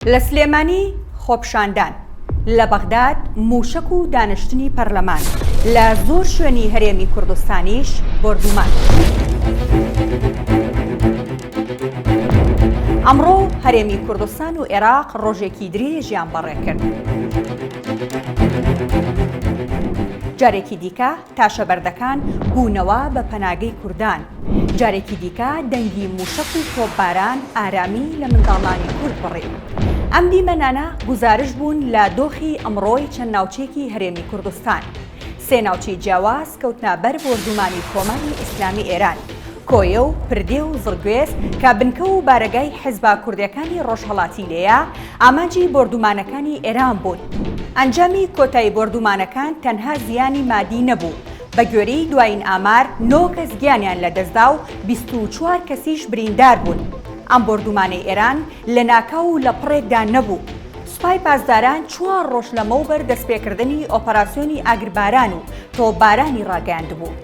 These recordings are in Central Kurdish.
لە سلێمانی خۆپیشاندان، لە بەغداد مووشەک و دانیشتنی پەرلەمان، لە زۆر شوێنی هەرێمی کوردستانیش بۆردوومان. ئەمڕۆ هەرێمی کوردستان و عێراق ڕۆژێکی درێژیان بەڕێکرد. جارێکی دیکە تاشەبەردەکان بوونەوە بە پەناگەی کوردان، جارێکی دیکە دەنگی مووشەک و تۆپباران ئارامی لە منداڵانی کورد بڕی. ئەم دیمەنانە گوزارش بوون لە دۆخی ئەمڕۆی چەند ناوچەیەکی هەرێمی کوردستان. سێ ناوچەی جیاواز کەوتنە بەر بۆردوومانی کۆماری ئیسلامی ئێران. کۆیە و پردێ و زڕگوێز کە بنکە و بارەگای حیزبە کوردەکانی ڕۆژهەڵاتی لێیە، ئامانجی بۆردومانەکانی ئێران بوون. ئەنجامی کۆتای بۆردومانەکان تەنها زیانی مادی نەبوو، بە گوێرەی دوایین ئامار نۆ کەس گیانیان لەدەستدا و بیست و چوار کەسیش بریندار بوون. ئەم بۆردومانەی ئێران لەناکاو و لە پڕێکدا نەبوو. سوپای پاسداران چوار ڕۆژ لەمەوبەر دەستپێکردنی ئۆپەراسیۆنی ئاگرباران و تۆپبارانی ڕاگەیاندبوو.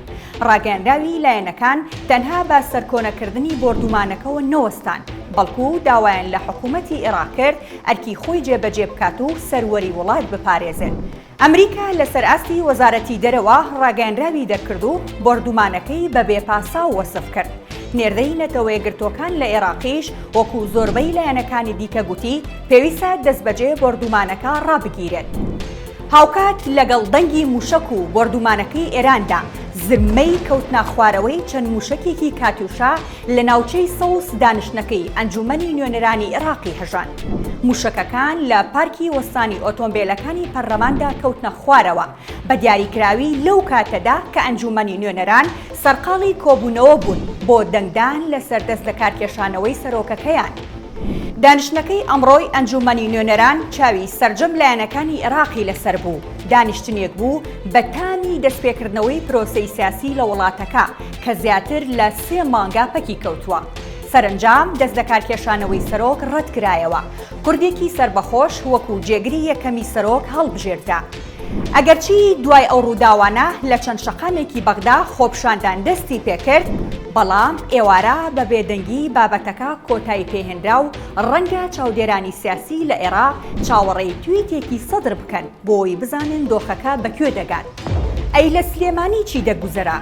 ڕاگەیەنراوی لایەنەکان تەنها بە سەرکۆنەکردنی بۆردومانەکەوە نەوەستان، بەڵکو داوایان لە حکومەتی عێراق کرد ئەرکی خۆی جێبەجێ بکات و سەروەری وڵات بپارێزێت. ئەمریکا لەسەر ئاستی وەزارەتی دەرەوە ڕاگەیەنراوی دەرکرد و بۆردومانەکەی بە بێ پاساو وەسف کرد. نێردەی نەتەوەیەکگرتووەکان لە عێراقیش وەکو زۆربەی لایەنەکانی دیکە گوتی پێویستە دەستبەجێ بۆردومانەکە ڕابگیرێت. هاوکات لەگەڵ دەنگی مووشەک و بۆردوومانەکەی ئێراندا، زرمەی کەوتناخوارەوەی چەند مووشەکێکی کاتیوشا لە ناوچەی سەوز دانیشتنەکەی ئەنجوومەنی نوێنەرانی عێراقی هەژاند. مووشەکەکان لە پارکی وەستانی ئۆتۆمبێلەکانی پەرلەماندا کەوتنە خوارەوە، بە دیاریکراوی لەو کاتەدا کە ئەنجوومەنی نوێنەران سەرقاڵی کۆبوونەوە بوون بۆ دەنگدان لەسەر دەستلەکارکێشانەوەی سەرۆکەکەیان. دانیشتنەکەی ئەمڕۆی ئەنجوومەنی نوێنەران چاوی سەرجەم لایەنەکانی عێراقی لەسەر بوو، دانیشتنێک بوو بە تامی دەستپێکردنەوەی پرۆسەی سیاسی لە وڵاتەکە کە زیاتر لە سێ مانگە پەکی کەوتووە. سەرەنجام دەستلەکارکێشانەوەی سەرۆک ڕەتکرایەوە، کوردێکی سەربەخۆش وەکو جێگری یەکەمی سەرۆک هەڵبژێردرا. ئەگەرچی دوای ئەو ڕووداوانە لە چەند شەقامێکی بەغدا خۆپیشاندان دەستی پێکرد، بەڵام ئێوارە بە بێدەنگی بابەتەکە کۆتایی پێهێنرا و ڕەنگە چاودێرانی سیاسی لە ئێراق چاوەڕێی تویتێکی سەدر بکەن بۆی بزانن دۆخەکە بە کوێ دەگات. ئەی لە سلێمانی چی دەگوزەرا؟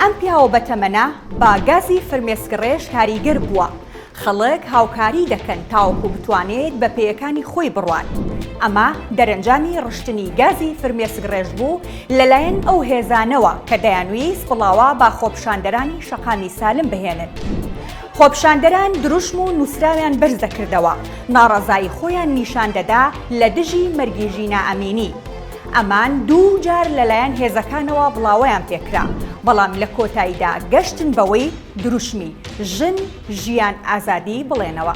ئەم پیاوە بەتەمەنە بە گازی فرمێسکڕێژ کاریگەر بووە، خەڵک هاوکاری دەکەن تاوەکو بتوانێت بە پێیەکانی خۆی بڕوات. ئەمە دەرەنجامی ڕشتنی گازی فرمێسکڕێژ بوو لەلایەن ئەو هێزانەوە کە دەیانویست بڵاوە بە خۆپیشاندەرانی شەقامی سالم بهێنن. خۆپیشاندەران دروشم و نووسراویان بەرز دەکردەوە، ناڕەزایی خۆیان نیشان دەدا لە دژی مەرگی ژینا ئەمینی. ئەمان دوو جار لەلایەن هێزەکانەوە بڵاوەیان پێکرا، بەڵام لە کۆتاییدا گەشتن بەوەی دروشمی، ژن، ژیان ئازادی بڵێنەوە.